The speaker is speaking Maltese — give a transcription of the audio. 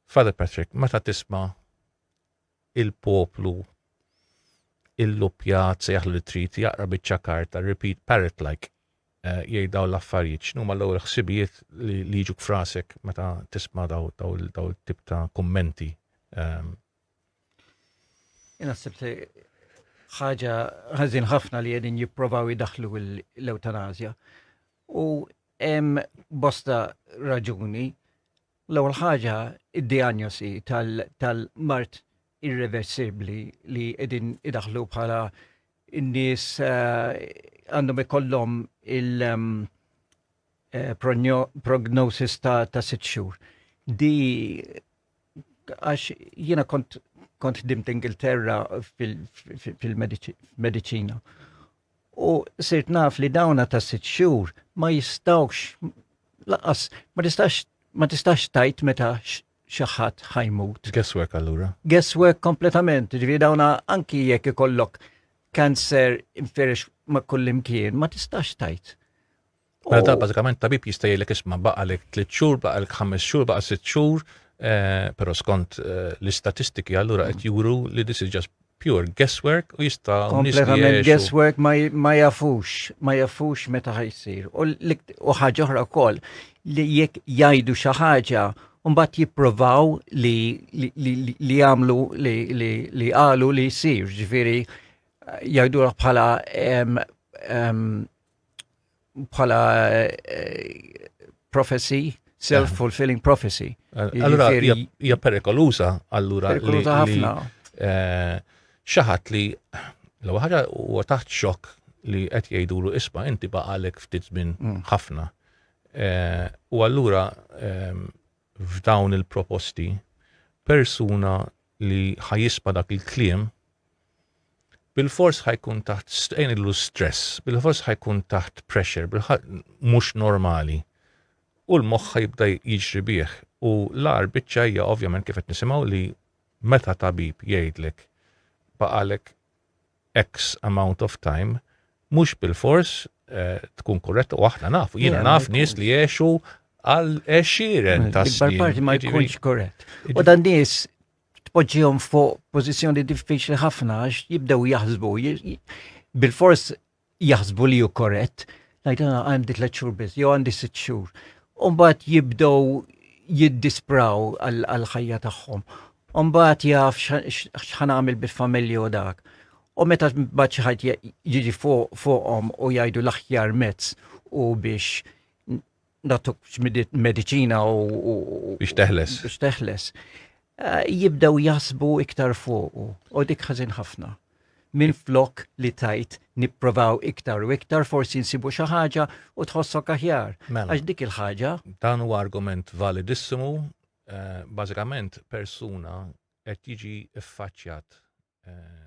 Father Patrick, meta tisma' il-poplu illuppjat, sejjaħlu li trid jaqra biċċa karta, repeat parrot like, jgħid dawn l-affarijiet, x'numa l-ewwel ħsibijiet li jiġuk frasek meta tisma' daw daw tip ta' kummenti? Ehm, Naħseb li ħaġa ħażin ħafna li qegħdin jipprovaw jidaħlu l-eutanazja. U hemm bosta raġuni L-ewwel ħaġa d-dijanjosi tal-mard irreversibbli li qegħdin idaħħlu bħala n-nies għandhom ikollhom il-prognosis ta' sitt xhur. Di għax jiena kont ħdimt Ingilterra fil-mediċina u sirt naf li dawna ta' sitt xhur ma jistawx laqas ma tistax ma tistax tajt meta xi ħadd ħajmut. Guesswork allura. Guesswork kompletament, ġifieri dawna anki jekk ikollok kanser inferex ma' kullimkien ma tistax tajt. Mela ta' bażikament tabib jista' jgħidlek isma' baqa' lek tliet xhur, baqa' lek ħames xhur, baqa' sitt xhur, eh, però skont eh, l-istatistiki allura qed juru li this is just pure guesswork u jista' kompletament guesswork ma jafux, ma jafux meta ħajsir. U ħaġa oħra wkoll li jekk jgħidu xi ħaġa Umbat jipprovaw li li għamlu li għalu li jisir, ġifiri jgħidu bħala bħala eh, prophecy, self-fulfilling prophecy. Allura, hija perikoluża, allura. Perikoluża ħafna. Eh, xaħat li l ħaġa u taħt xok li qed jgħidulu isma' inti baqalek ftit żmien mm. ħafna. Eh, u allura ehm, f'dawn il-proposti persuna li ħajisma dak il-kliem Bilfors ħajkun taħt strain illu stress, bilfors ħajkun taħt pressure, bilħat mhux normali. U l-moħħ jibda jiġri bih. U l-ar biċċa hija ovvjament kif qed nisimgħu li meta tabib jgħidlek baqalek X amount of time, mhux bil-fors eh, tkun korretta u aħna nafu, jiena naf nies li jiexu għal eċiren ta' snin. parti ma jkunx korrett. U dan nies tpoġġihom fuq pożizzjoni diffiċli ħafna għax jibdew jaħsbu, bil-fors jaħsbu li ju korrett, ngħid ah, għandi tliet xhur biss, jew għandi sitt xhur. Umbagħad jibdew jiddispraw għall-ħajja tagħhom. Umbagħad jaf x'ħan għamil bil-familja u dak. U meta mbagħad xi ħadd jiġi fuqhom u jgħidu l-aħjar mezz u biex natuk mediċina u. biex teħles. biex teħles. Eh, jibdew jasbu iktar fuqu u dik ħażin ħafna. Min flok li tajt nipprovaw iktar u iktar forsi nsibu xi ħaġa u tħossok aħjar. Mela. Għax dik il-ħaġa. Dan huwa argument validissimu, eh, bażikament persuna qed jiġi ffaċċjat eh,